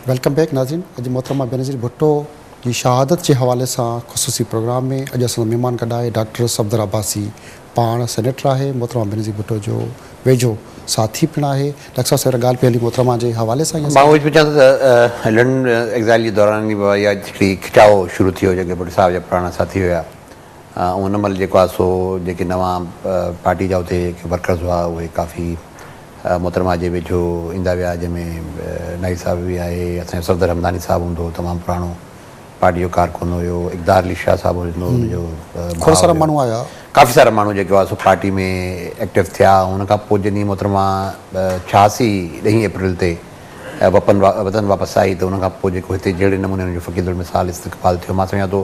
Welcome back ناظرين اڄ محترمه بينظير ڀٽو جي شهادت جي حوالي سان خصوصي پروگرام ۾ اڄ اسان مهمان گڏ آهي ڊاڪٽر صفدر عباسي پاڻ سينيٽر آهي محترمه بينظير ڀٽو جو ويجهو ساٿي پڻ آهي ڊاڪٽر صاحب سيرا ڳالهه پئي هلي محترمه جي حوالي سان مان اهو پڇان ٿو ته لنڊن ايگزائل جي دوران يا هڪڙي کٽاء شروع ٿيو جيڪي ڀٽو صاحب جا پراڻا ساٿي هيا ان مھل جيڪو آھي سو جيڪي نوان پارٽي جا اتي ورڪرز ھئا اھي ڪافي محترمه جي ويجھو ايندا ويا جنھن ۾ ناھيد صاحب به آھي اسان جو صفدر ھمداني صاحب ھوندو ھو تمام پراڻو پارٽي جو ڪارڪن ھيو اقدار علي شاھ صاحب ھوندو ھو ان جو ڀاء ھيو ڪافي سارا ماڻھو جيڪي ھئا سو پارٽي ۾ ايڪٽو ٿيا ان کان پوء جڏھن محترمه ڇھاسي ڏھين اپريل تي وپن وطن واپس آئي ته ان کان پوء جيڪو ھتي جھڙي نموني ان جو فقير المثال استقبال ٿيو مان سمجھان ٿو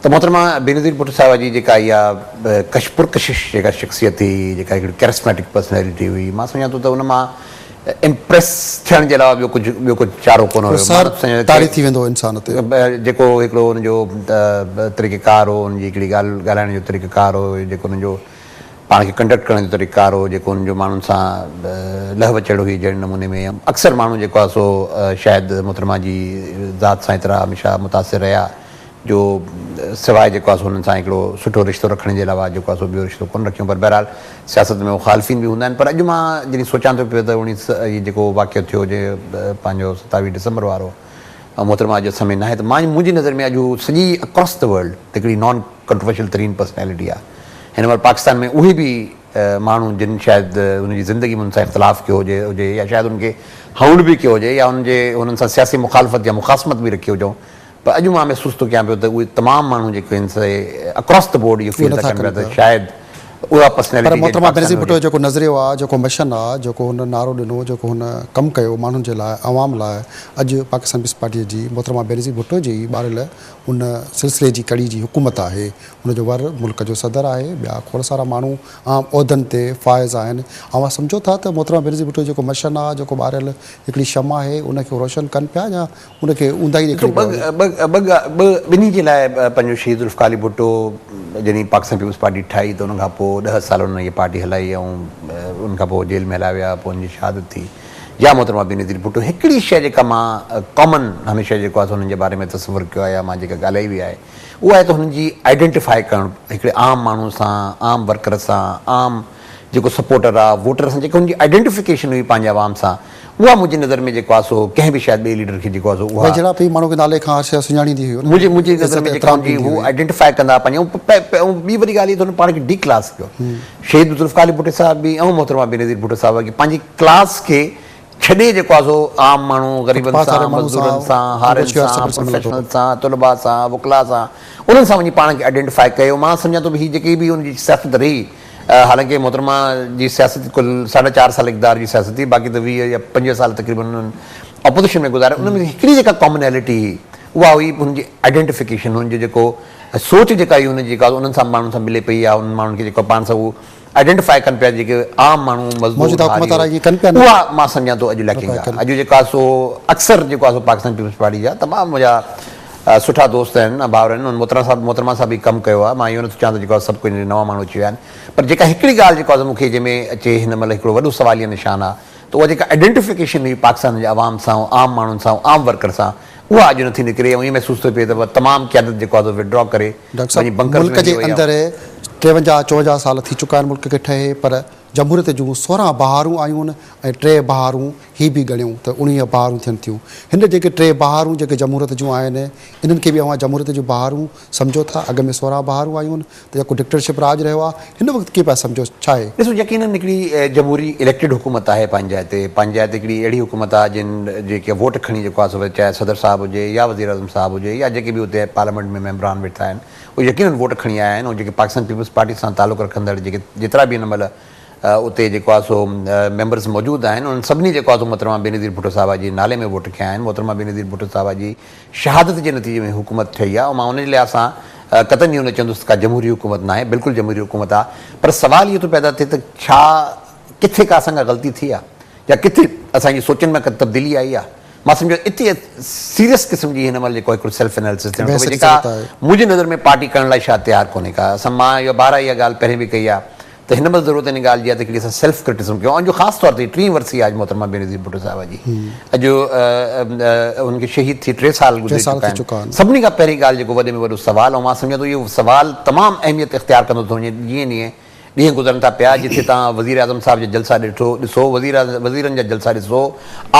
ته محترمه بينظير ڀٽو صاحبه جي جيڪا اها ڪش پرڪشش جيڪا شخصيت هئي، جيڪا هڪڙي ڪيرسميٽڪ پرسنيلٽي هئي، مان سمجهان ٿو ته ان مان امپريس ٿيڻ جي علاوه ٻيو ڪجهه ٻيو ڪجهه چارو ڪونه هيو. مان نٿو سمجهان ته ڪير جيڪو هڪڙو ان جو طريقه ڪار هو، ان جي هڪڙي ڳالهه ڳالهائڻ جو طريقه ڪار هو، جيڪو ان جو پاڻ کي ڪنڊڪٽ ڪرڻ جو طريقه ڪار هو، جيڪو ان جو ماڻهن سان لهه وچڙ هئي جهڙي نموني ۾ اڪثر ماڻهو جيڪو آهي سو شايد محترمه جي ذات سان ايترا هميشه متاثر رهيا. جو سواء جيڪو آهي سو انهن سان هڪڙو سٺو رشتو رکڻ جي علاوه جيڪو آهي سو ٻيو رشتو ڪونه رکيون پر بهرحال سياست ۾ مخالفين به هوندا آهن پر اڄ مان جڏهن سوچان ٿو پيو ته اوڻيهه هي جيڪو واقعو ٿيو جي پنهنجو ستاويهه ڊسمبر وارو محترمه اڄ اسان ۾ ناهي ته مان منهنجي نظر ۾ اڄ هو سڄي اڪراس دي ورلڊ هڪڙي نان ڪنٽروورشل ترين پرسنالٽي آهي هن مهل پاڪستان ۾ اهي به ماڻهو جن شايد ان جي زندگي ۾ ان سان اختلاف ڪيو هجي هجي يا شايد ان کي هئڻ به ڪيو هجي يا ان جي انهن سان سياسي مخالفت يا مخاصمت به رکي هجئون پر اڄ مان محسوس ٿو ڪيان پيو ته اهي تمام ماڻهو جيڪي آهن سي اڪراس دي بورڊ اهو فيل ٿا ڪن پيا ته شايد اها پرسنالٽي پر محترمه بينظير ڀٽو جو جيڪو نظريو آهي جيڪو مشن آهي جيڪو هن نعرو ڏنو جيڪو هن ڪم ڪيو ماڻهن جي لاء عوام لاء اڄ پاڪستان پيپلز پارٽي جي محترمه بينظير ڀٽو جي ئي ٻاريل ان سلسلي جي ڪڙي جي حڪومت آهي ان جو ور ملڪ جو صدر آهي ٻيا کوڙ سارا ماڻهو عام عهدن تي فائز آهن اوهان سمجهو ٿا ته محترمه بينظير ڀٽو جو جيڪو مشن آهي جيڪو ٻاريل هڪڙي شمع آهي ان کي روشن ڪن پيا يا ان کي اونداهي ڏيکاري پيا وڃن. ٻه ٻنهي جي لاء پنهنجو شهيد ذوالفقار علي ڀٽو جڏهن پاڪستان پيپلز پارٽي ٺاهي ته ان کان پوء ڏهه سال انهن هيء پارٽي هلائي ۽ ان کان پوء جيل ۾ هلايا ويا پوء انهن جي شهادت ٿي جا محترمه بينظير ڀٽو هڪڙي شيء جيڪا مان ڪامن هميشه جيڪو آهي سو انهن جي باري ۾ تصور ڪيو آهي يا مان جيڪا ڳالهائي وئي آهي اهو آهي ته هنن جي آئيڊينٽيفائي ڪرڻ هڪڙي عام ماڻهو سان عام ورڪر سان عام جيڪو سپورٽر آ ووٽر سان جيڪا هن جي آئيڊينٽيفڪيشن هئي پنهنجي عوام سان اها منهنجي نظر ۾ جيڪو آ سو ڪنهن به شايد ٻئي ليڊر کي جيڪو آ سو اها ويجهڙائپ هئي ماڻهو کي نالي کان هر شيء سڃاڻيندي هئي منهنجي منهنجي نظر ۾ جيڪا هن جي هو آئيڊينٽيفائي ڪندا پنهنجي ۽ ٻي وڏي ڳالهه هي ته هن پاڻ کي ڊي ڪلاس ڪيو شهيد ذوالفقار علي ڀٽو صاحب به ۽ محترمه بينظير ڀٽو صاحبه کي پنهنجي ڪلاس کي ڇڏي جيڪو آ سو عام ماڻهو غريبن سان مزدورن سان هارين سان پروفيشنل سان طلبا سان وڪلا سان انهن سان وڃي پاڻ کي آئيڊينٽيفائي ڪيو مان سمجهان ٿو ته هي جيڪي به هن جي سياست رهي حالانڪه محترمه جي سياست ڪل ساڍا چار سال اقتدار جي سياست هئي باقي ته ويهه يا پنجويهه سال تقريبن انهن اپوزيشن ۾ گذاريا ان ۾ هڪڙي جيڪا ڪامنيلٽي هئي اها هئي هن جي آئيڊينٽيفڪيشن هن جو جيڪو سوچ جيڪا هئي هن جي جيڪا انهن سان ماڻهن سان ملي پئي يا انهن ماڻهن کي جيڪو پاڻ سان هو آئيڊينٽيفائي ڪن پيا جيڪي عام ماڻهو مزدور ڌاريو اها مان سمجهان ٿو اڄ ليڪنگ آهي اڄ جيڪا سو اڪثر جيڪو آهي سو پاڪستان پيپلز پارٽي جا تمام جا سٺا دوست آهن ڀائر آهن انهن محترم صاحب محترمه سان به ڪم ڪيو آهي مان اهو نٿو چوان ته جيڪو سڀ ڪجهه نوان ماڻهو اچي ويا آهن پر جيڪا هڪڙي ڳالهه جيڪو آهي مون کي جنهن ۾ اچي هن مهل هڪڙو وڏو سواليه نشان آهي ته اها جيڪا ائڊينٽيفڪيشن هئي پاڪستان جي عوام سان ۽ عام ماڻهن سان ۽ عام ورڪر سان اها اڄ نٿي نڪري ۽ ائين محسوس ٿو پئي ته تمام قيادت جيڪو آهي سو وڊرا ڪري ڊاڪٽر صاحب وڃي بنڪرز ملڪ ۾ جي هليو وئي آهي اندر ٽيونجاهه چوونجاهه سال ٿي چڪا آهن ملڪ کي ٺهي پر جمهوريت جون سورهن بهارون آيون ۽ ٽي بهارون هي به ڳڻيو ته اڻويهه بهارون ٿين ٿيون. هن جيڪي ٽي بهارون جيڪي جمهوريت جون آهن، انهن کي به اوهان جمهوريت جون بهارون سمجهو ٿا؟ اڳ ۾ سورهن بهارون آيون هن ته جيڪو ڊڪٽرشپ راڄ رهيو آهي، هن وقت ڪيئن پيا سمجهو؟ ڇا اهي. ڏسو يقينن هڪڙي جمهوري اليڪٽيڊ حڪومت آهي پنهنجائي تي. پنهنجائي تي هڪڙي اهڙي حڪومت آهي جن جيڪي ووٽ کڻي جيڪو آهي سو وري چاهي صدر صاحب هجي يا وزيراعظم صاحب هجي يا جيڪي به اتي پارليامينٽ ۾ ميمبران ويٺا آهن اهي يقينن ووٽ کڻي آيا آهن ۽ جيڪي پاڪستان پيپلز پارٽي سان تعلق رکندڙ جيڪي جيترا به هن مهل اتي جيڪو آهي سو ميمبرز موجود آهن انهن سڀني جيڪو آهي سو محترمه بينظير ڀٽو صاحبه جي نالي ۾ ووٽ کنيا آهن محترمه بينظير ڀٽو صاحبه جي شهادت جي نتيجي ۾ حڪومت ٺهي آهي مان ان جي لحاظ سان قطعا جيون نه چوندس ته ڪا جمهوري حڪومت ناهي بلڪل جمهوري حڪومت آهي پر سوال اهو ٿو پيدا ٿئي ته ڇا ڪٿي ڪا اسان کان غلطي ٿي آهي يا ڪٿي اسان جي سوچن ۾ ڪا تبديلي آئي آهي مان سمجهو اتي سيريس قسم جي هن مهل جيڪو هڪڙو سيلف اناليسس ٿيڻ کپي جيڪا منهنجي نظر ۾ پارٽي ڪرڻ لاء شايد تيار ڪونهي ڪا اسان مان يا بارا اها ڳالهه پهرين به ڪئي آهي ته هن مهل ضرورت ان ڳالهه جي آهي ته هڪڙي اسان سيلف ڪرٽيسم ڪيون جو خاص طور تي هي ٽين ورسي آهي محترمه بينظير ڀٽو صاحبه جي اڄ ان کي شهيد ٿي ٽي سال گذري چڪا آهن سڀني کان پهرين ڳالهه جيڪو وڏي ۾ وڏو سوال ۽ مان سمجهان ٿو اهو سوال تمام اهميت اختيار ڪندو ٿو وڃي جيئن جيئن ڏينهن گذرن ٿا پيا جتي تان وزير اعظم صاحب جا جلسا ڏٺو ڏسو وزير وزيرن جا جلسا ڏسو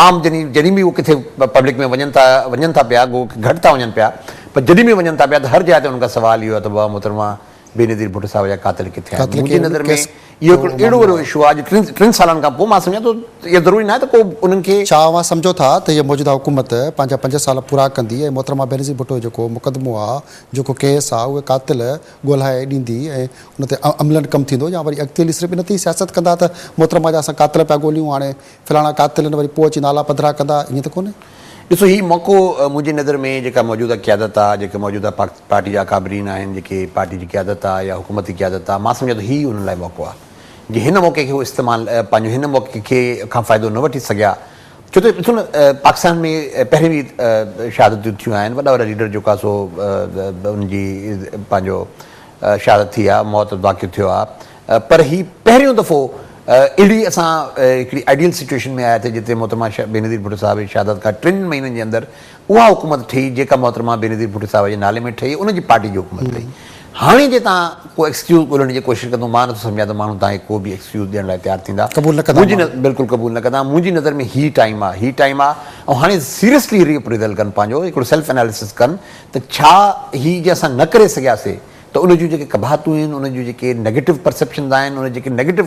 عام جني جڏهن به هو ڪٿي پبلڪ ۾ وڃن ٿا وڃن ٿا پيا گو گهٽ ٿا وڃن پيا پر جڏهن به وڃن ٿا پيا ته هر جاء تي ان کان سوال اهو آهي ته بابا محترمه بينظير ڀٽو صاحب جا قاتل ڪٿي آهن؟ منهنجي نظر ۾ اهو هڪڙو اهڙو وڏو اشو آهي جو ٽن ٽن سالن کان پوء مان سمجهان ٿو ته اهو ضروري ناهي ته ڪو انهن کي. ڇا اوهان سمجهو ٿا ته هيء موجوده حڪومت پنهنجا پنج سال پورا ڪندي ۽ محترمه بينظير ڀٽو جو جيڪو مقدمو آهي، جيڪو ڪيس آهي، اهي قاتل ڳولهائي ڏيندي ۽ ان تي عملاً ڪم ٿيندو يا وري اڳتي هلي صرف ان تي ئي سياست ڪندا ته محترمه جا اسان قاتل پيا ڳوليون هاڻي فلاڻا قاتل آهن وري پوء اچي نالا پڌرا ڪندا ائين ته ڪونهي. ڏسو هي موقعو منهنجي نظر ۾ جيڪا موجوده قيادت آ جيڪي موجوده پارٽي جا اڪابرين آهن جيڪي پارٽي جي قيادت آ يا حڪومتي قيادت آ مان سمجهان ٿو هي انهن لاء موقعو آ جي هن موقعي کي هو استعمال پنهنجو هن موقعي کي کان فائدو نه وٺي سگهيا ڇو ته ڏسو نه پاڪستان ۾ پهرين به شهادتون ٿيون آهن وڏا وڏا ليڊر جيڪو آ سو ان جي پنهنجو شهادت ٿي آ موت واقع ٿيو آ. پر هي پهريون دفعو اهڙي اسان هڪڙي آئيڊيل سچوئيشن ۾ آيا ٿي جتي محترمه بينظير ڀٽو صاحب جي شهادت کان ٽن مهينن جي اندر اها حڪومت ٺهي جيڪا محترمه بينظير ڀٽو صاحب جي نالي ۾ ٺهي ان جي پارٽي جي حڪومت ٺهي هاڻي جي توهان ڪو ايڪسڪيوز ڳولڻ جي ڪوشش ڪندو مان نٿو سمجهان ته ماڻهو توهان کي ڪو به ايڪسڪيوز ڏيڻ لاء تيار ٿيندا قبول نه ڪندا منهنجي ماڻهو. بلڪل قبول نه ڪندا منهنجي نظر ۾ هي ٽائيم آ هي ٽائيم آ ۽ هاڻي سيريسلي ري اپريزل ڪن پنهنجو هڪڙو سيلف اناليسس ڪن ته ڇا هي جي اسان نه ڪري سگهياسي ته ان جون جيڪي قباحتون آهن، ان جون جيڪي نيگيٽو پرسيپشنز آهن، ان جا جيڪي نيگيٽو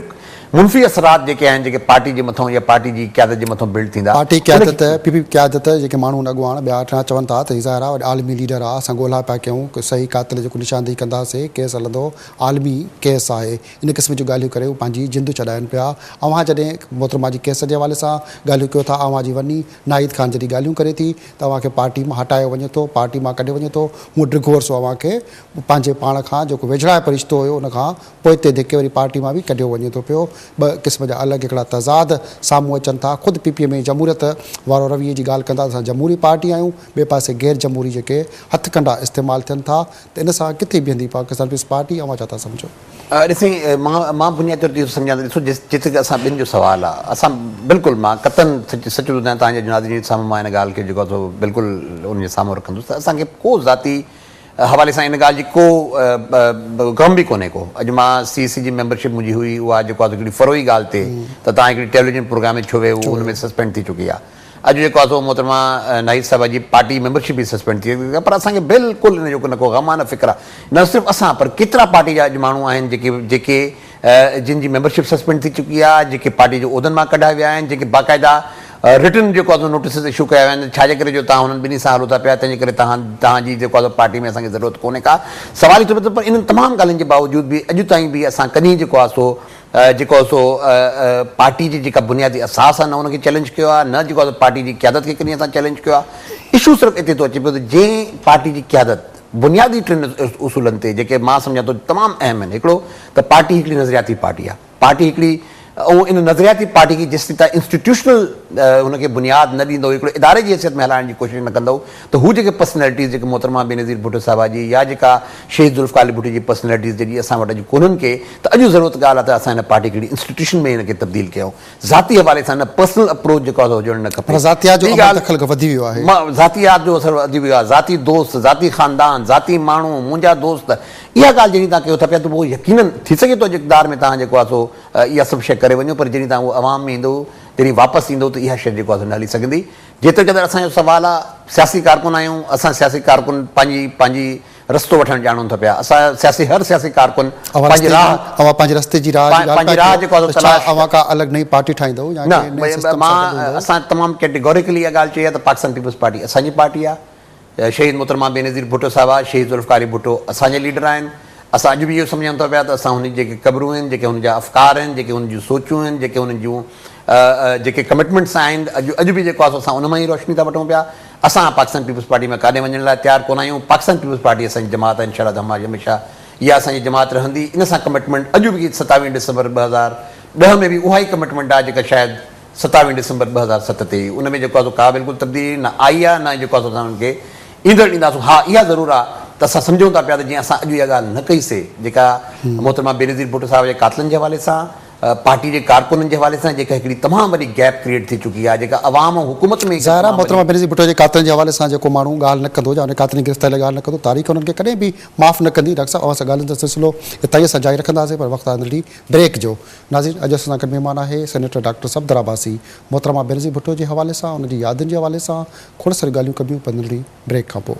منفي اثرات جيڪي آهن، جيڪي پارٽي جي مٿان يا پارٽي جي قيادت جي مٿان بلڊ ٿيندا. پارٽي قيادت، پي پي قيادت، جيڪي ماڻهو ۽ اڳواڻ ٻيا اٺ آهن، چون ٿا ته هي ظاهر آهي وڏا عالمي ليڊر آهي، اسان ڳولها پيا ڪيون، صحيح قاتل جي نشاندهي ڪنداسين، ڪيس هلندو، عالمي ڪيس آهي، ان قسم جون ڳالهيون ڪري هو پنهنجي جند ڇڏائين پيا، اوهان جڏهن محترمه جي ڪيس جي حوالي سان ڳالهيون ڪيو ٿا، اوهان جي ورني ناهيد خان جڏهن ڳالهيون ڪري ٿي، ته اوهان کي پارٽي مان هٽايو وڃي ٿو، پارٽي مان ڪڍيو وڃي ٿو، مون ڊگهو عرصو اوهان کي پنهنجي پاڻ کان جيڪو ويجهڙائپ رشتو هيو ان کان پوئتي ڌڪي وري پارٽي مان به ڪڍيو وڃي ٿو پيو، ٻه قسم جا الڳ هڪڙا تضاد سامهون اچن ٿا، خود پي پي ۾ جمهوريت وارو رويي جي ڳالهه ڪن ٿا ته اسان جمهوري پارٽي آهيون، ٻئي پاسي غير جمهوري جيڪي هٿ ڪنڊا استعمال ٿين ٿا ته ان سان ڪٿي بيهندي پاڪستان پيپلز پارٽي اوهان ڇا ٿا سمجهو؟ اڙي سائين مان مان بنيادي طور تي اهو سمجهان ٿو ڏسو جيتري ته اسان ٻن جو سوال آ اسان بلڪل مان قطعن سچ سچ ٿو ٻڌايان تهان جي جنازي جي سامهون مان ان ڳالهه کي جيڪو ٿو بلڪل ان جي سامهون رکندس ته اسان کي ڪو ذاتي حوالي سان ان ڳالهه جي ڪو غم به ڪونهي ڪو اڄ مان سي سي جي ميمبر شپ منهنجي هئي اها جيڪو آ سو هڪڙي فروعي ڳالهه تي ته تهان هڪڙي ٽيليوجن پروگرام ۾ ڇو ويهو هو ان ۾ سسپينڊ ٿي چڪي آ اڄ جيڪو آهي سو محترمه ناهيد صاحبه جي پارٽي ميمبرشپ ئي سسپينڊ ٿي وئي آهي پر اسان کي بلڪل ان جو نه ڪو غم آهي نه فڪر آهي نه صرف اسان پر ڪيترا پارٽي جا اڄ ماڻهو آهن جيڪي جيڪي جن جي ميمبرشپ سسپينڊ ٿي چڪي آهي جيڪي پارٽي جي عهدن مان ڪڍايا ويا آهن جيڪي باقاعده رٽن جيڪو آهي سو نوٽيسز اشو ڪيا ويا آهن ڇا جي ڪري جو توهان هنن ٻنهي سان هلو ٿا پيا تنهن جي ڪري توهان توهان جي جيڪو آهي سو پارٽي ۾ اسان کي ضرورت ڪونهي ڪا سوال ئي ٿو اٿي پر انهن تمام ڳالهين جي باوجود به اڄ تائين به اسان ڪڏهن جيڪو آهي سو جيڪو آهي سو پارٽي جي جيڪا بنيادي اساس آهي نه ان کي چئلينج ڪيو آهي نه جيڪو آهي سو پارٽي جي قيادت کي ڪنهن اسان چئلينج ڪيو آهي اشو صرف اتي ٿو اچي پيو ته جنهن پارٽي جي قيادت بنيادي ٽن اصولن تي جيڪي مان سمجهان ٿو تمام اهم آهن هڪڙو ته پارٽي هڪڙي نظرياتي پارٽي آهي پارٽي هڪڙي ۽ ان نظرياتي پارٽي کي جيستائين انسٽيٽيوشنل ان کي بنياد نه ڏيندو هڪڙي اداري جي حيثيت ۾ هلائڻ جي ڪوشش نه ڪندو ته هو جيڪي پرسنالٽيز جيڪي محترمه بينظير ڀٽو صاحبه جي يا جيڪا شهيد ذوالفقار علي ڀٽو جي پرسنالٽيز جيڪي اسان وٽ اڄ ڪونهن ڪي ته اڄ ضرورت ڳالهه آهي ته اسان هن پارٽي کي هڪڙي انسٽيٽيوشن ۾ هن کي تبديل ڪيون ذاتي حوالي سان نه پرسنل اپروچ جيڪو آهي سو هجڻ نه کپي. معنيٰ ذاتيات جو ابر دخل وڌي ويو آهي. ذاتيات جو اثر وڌي ويو آهي ذاتي دوست ذاتي خاندان ذاتي ماڻهو منهنجا دوست اها ڳالهه جڏهن توهان ڪيو ٿا پيا ته پوء يقيناً ٿي سگهي ٿو اڄ اقتدار ۾ توهان جيڪو آهي سو اها سڀ شيء ڪري وڃو پر جڏهن توهان اهو عوام ۾ ايندو جڏهن واپس ايندو ته اها شيء جيڪو آهي سو نه هلي سگهندي. جيتريقدر اسان جو سوال آ سياسي ڪارڪن آهيون اسان سياسي ڪارڪن پنهنجي پنهنجي رستو وٺڻ ڄاڻون ٿا پيا اسان سياسي هر سياسي ڪارڪن پنهنجي راهه اوهان پنهنجي رستي جي راهه جي ڳالهه پيا ڪيو جيڪو آهي سو تلاش ڇا اوهان ڪا الڳ نئين پارٽي ٺاهيندؤ يا ڪنهن نئين سسٽم سان گڏ هوندؤ؟ اسان تمام ڪيٽيگوريڪلي اها ڳالهه چئي آ ته پاڪستان پيپلز پارٽي اسان جي پارٽي آ. شهيد محترمه بينظير ڀٽو صاحبه، شهيد ذوالفقار علي ڀٽو اسان جا ليڊر آهن، اسان اڄ به اهو سمجهون ٿا پيا ته اسان هن جي جيڪي قبرون آهن، جيڪي هن جا افڪار آهن، جيڪي هن جون سوچون آهن، جيڪي هن جون جيڪي ڪمٽمينٽس آهن، اڄ اڄ به جيڪو آهي سو اسان ان مان ئي روشني ٿا وٺون پيا، اسان پاڪستان پيپلز پارٽي مان ڪاڏهن وڃڻ لاء تيار ڪونه آهيون، پاڪستان پيپلز پارٽي اسان جي جماعت آهي انشاء الله ته هميشه اها اسان جي جماعت رهندي، ان سان ڪمٽمينٽ اڄ به ستاويهه ڊسمبر ٻه هزار ڏهه ۾ به اها ئي ڪمٽمينٽ آهي جيڪا شايد ستاوي ڊسمبر ٻه هزار ست تي ان ۾ جيڪو آسو ڪا بلڪل تبديلي نه آئي آ نه جيڪو آسو اسان انهن کي ايندڙ ڏينداسون ها اها ضرور آ ته اسان سمجهون ٿا پيا ته جيئن اسان اڄ اها ڳالهه نه ڪئي سي جيڪا محترمه بينظير ڀٽو صاحب جي قاتلن جي حوالي سان پارٽي جي ڪارڪنن جي حوالي سان جيڪا هڪڙي تمام وڏي گيپ ڪريئيٽ ٿي چڪي آ جيڪا عوام ۽ حڪومت ۾ هڪ ظاهر آ تمام محترمه وڏي بينظير ڀٽو جي قاتلن جي حوالي سان جيڪو ماڻهو ڳالهه نه ڪندو يا انهن قاتلن جي گرفتاري لاء ڳالهه نه ڪندو تاريخ انهن کي ڪڏهن به معاف نه ڪندي ڊاڪٽر صاحب اوهان سان ڳالهين جو سلسلو اتهائيء سان جاري رکنداسين پر وقت آ ننڍي بريڪ جو. ناظرين اڄ اسان سان گڏ مھمان آھي سينيٽر ڊاڪٽر صفدر عباسي محترمه بينظير ڀٽو جي حوالي سان ان جي يادن جي حوالي سان کوڙ ساريون ڳالھيون ڪبيون پر ننڍڙي بريڪ کان پوء.